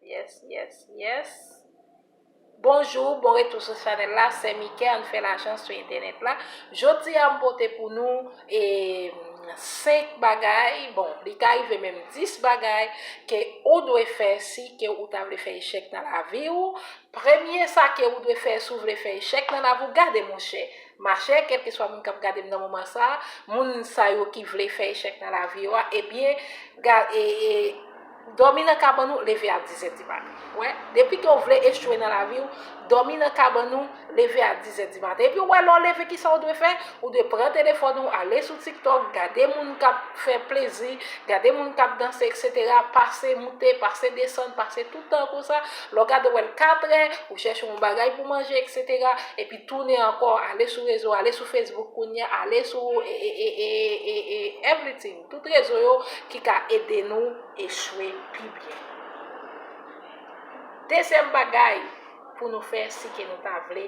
Yes yes yes Bonjour bon retou sou chanel la sè mike an fè lajan sou entènèt la jodi a m pote pou nou e 5 bagay bon li ka rive menm 10 bagay ke ou dwe fè si ke ou ta vle fè echèk nan lavi ou premye sa ke ou dwe fè si ou vle fè echèk nan lavi ou gade monchè machè kelkeswa moun kap gade m nan moman sa moun sa yo ki vle fè echèk nan lavi yo a ebyen gad e e Dòmi nan kabann ou, leve a dizè di maten. Wè, depi ke w vle echwe nan lavi w, dòmi nan kabann ou, leve a dizè di maten. Epi wè, lè w leve kisa w dwe fè? Ou dwe pran telefòn ou, ale sou TikTok, gade moun kap fè plezi, gade moun kap danse eksetera, pase moute, pase desann, pase tout tan konsa, lè w gade wè l katrè, ou chèche yon bagay pou manje eksetera, epi tounen ankò, ale sou rezo, ale sou Facebook kounya, ale sou everything. Tout rezon yo ki ka ede nou echwe pi byen. Dezyèm bagay pou nou fè si ke nou ta vle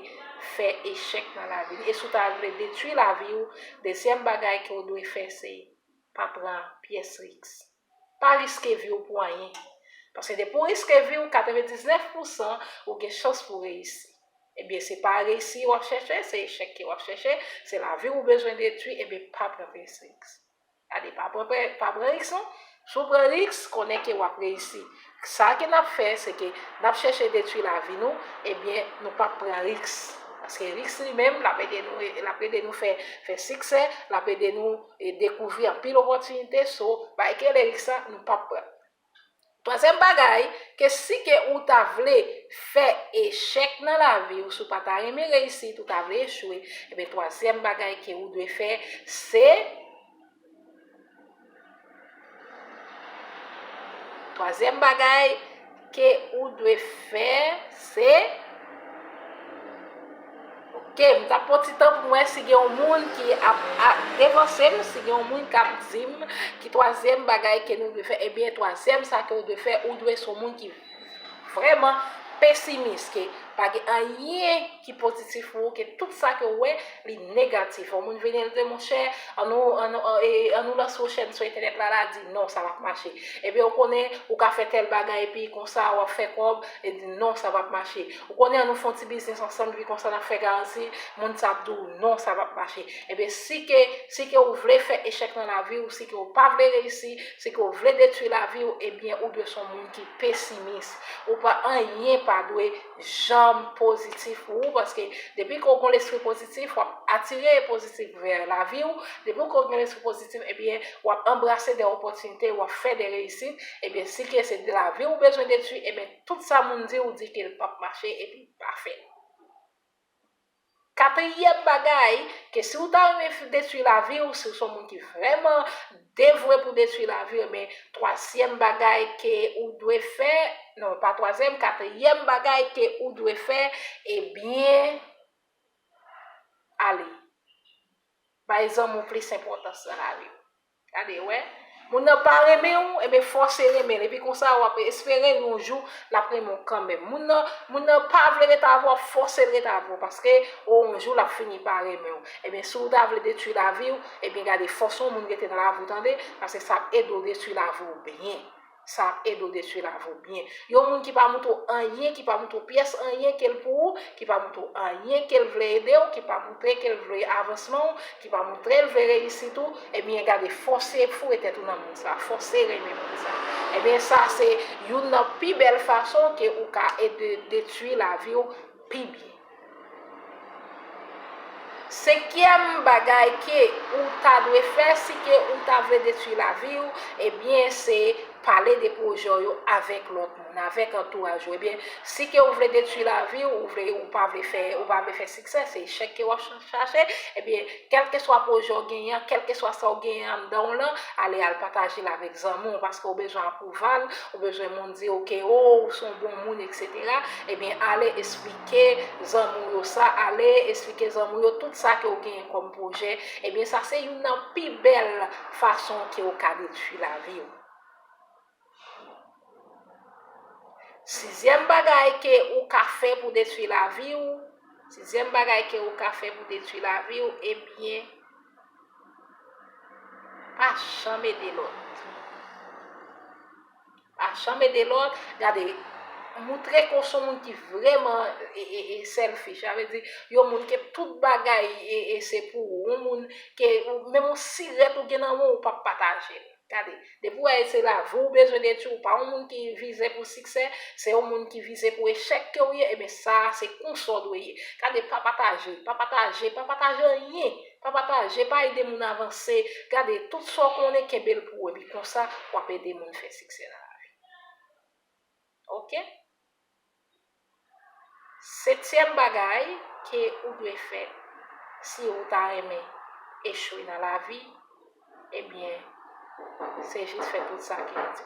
fè echèk nan lavi nou e si w ta vle detwi lavi w, dezyèm bagay ke w dwe fè se pa pran pyès riks. Pa riske vi w pou anyen. Paske depi w riske vi w, 99 pousan ou gen chans pou w reyisi. Ebyen se pa resi wap chèche se echèk ke wap chèche, se lavi ou bezwen detwi ebyen pa pran plis riks. Gade pa pran pa pran riks non, si w pran riks konnen ke wap reyisi. Sa ke nap fè se ke nap chèche detwi lavi nou ebyen nou pap pran riks. Paske riks li menm lap ede nou lap ede nou fè fè siksè, lap ede nou dekouvri anpil opòtinite so bay kele riks sa nou pap pran. Twazyèm bagay, ke si ke ou ta vle fè echèk nan lavi ou, si ou pa ta renmen reyisit, ou ta vle echwe, enben twazyèm bagay ke ou dwe fè, se, twazyèm bagay ke ou dwe fè, se. Ok m tap pran ti tan pou m wè si gen yon moun ki ap devanse m, si gen yon moun kap di m ki twazyèm bagay ke nou dwe fè, ebyen twazyèm sa ke ou dwe fè, ou dwe se yon moun ki vrèman pesimis, ke pa gen anyen ki pozitif pou ou, ke tout sa ke ou wè li negatif. Yon moun vini l di monchè an nou an nou an nou lanse yon chèn sou entènèt la la di non sa pap mache, ebyen ou konnen ou ka fè tèl bagay epi konsa wap fè kòb, li di non sa pap mache. Ou konnen an nou fon ti biznis ansanm epi konsa nap fè garanti, moun sa ap di w non sa pap mache. Ebyen si ke si ke ou vle fè echèk nan lavi ou, si ke ou pa vle reyisi, si ke ou vle detwi lavi ou ebyen ou dwe son moun ki pesimis. Ou pa anyen pa dwe janm pozitif pou ou paske depi ke ou gon lespri pozitif wap atire pozitif vè lavi ou, depi ke ou gen lespri pozitif ebyen wap anbrase de opòtinite, wap fè de reyisit, ebyen si ke se lavi ou bezwen detwi ebyen Tout sa moun di ou di kel pap mache epi li pa fèt. Katriyèm bagay ke si ou ta renmen detwi lavi ou, si ou son moun ki vrèman devwe pou detwi lavi ou ebyen twazyèm bagay ke ou dwe fè, non pa twazyèm katriyèm bagay ke ou dwe fè ebyen ale bay zanmi ou plis enpòtans nan lavi ou. Gade wè, moun nan pa renmen ou, enben fòse renmen l, epi konsa wap espere yon jou lap renmen w kanmenm. Moun nan, moun nan pa vle ret avè w, wap fòse l ret avè w, paske o yon jou lap fini pa renmen w. Enben si w ta vle detwi lavi w, enben gade fòs yon moun rete nan lavi w tande, paske sa ap ede w detwi lavi w byen. Sa ap ede w detwi lavi w byen. Yon moun ki pa montre w anyen, ki pa montre w pyès anyen ke l pou ou, ki pa montre w anyen ke l vle ede w, ki pa montre ke l vle avansman w, ki pa montre l vle reyisit ou, ebyen gade fòse foure tèt ou nan moun sa, fòse renmen moun sa. Ebyen sa se youn nan pi bèl fason ke ou ka ede detwi lavi w pi byen. Senkyèm bagay ke ou ta dwe fè si ke ou ta vle detwi lavi ou, ebyen se pale de pwojè w yo avèk lòt moun, avèk antouraj ou. Ebyen, si ke ou vle detwi lavi ou, ou vle, ou pa vle fè, ou pa vle fè siksè, se echèk ke w'ap chache, ebyen, Kèlkeswa pwojè w genyen an, kèlkeswa sa w genyen anndan w lan, ale al pataje l avèk zanmi w paske w bezwen apwouval, ou bezwen moun di w ke o ou se yon bon moun eksetera, ebyen ale esplike zanmi w yo sa, ale esplike zanmi w yo tout sa ke w genyen kòm pwojè, ebyen sa se youn nan pi bèl fason ke w ka detwi lavi w. Sizyèm bagay ke ou ka fè pou detwi lavi ou, sizyèm bagay ke ou ka fè pou detwi lavi ou, ebyen, pa janm ede lòt. Pa janm ede lòt, gade, moutre ke w son moun ki vreman selfish, sa vle di, yon moun ke tout bagay se pou ou, yon moun ke menm yon sirèt ou gen nan men w ou pap pataje l. Gade, depi w wè se lavi w bezwen detwi, ou pa yon moun ki vize pou siksè, se yon moun ki vize pou echèk ke w ye, eben sa a se konsa w dwe ye. Gade, pa pataje, pa pataje, pa pataje anyen, pa pataje, pa ede moun avanse, gade, tout sa w konnen kenbe l pou ou, epi konsa w ap ede moun fè siksè nan lavi. Ok. Setyèm bagay ke ou dwe fè si ou ta renmen echwe nan lavi, ebyen se jis fè tout sa ke yo di.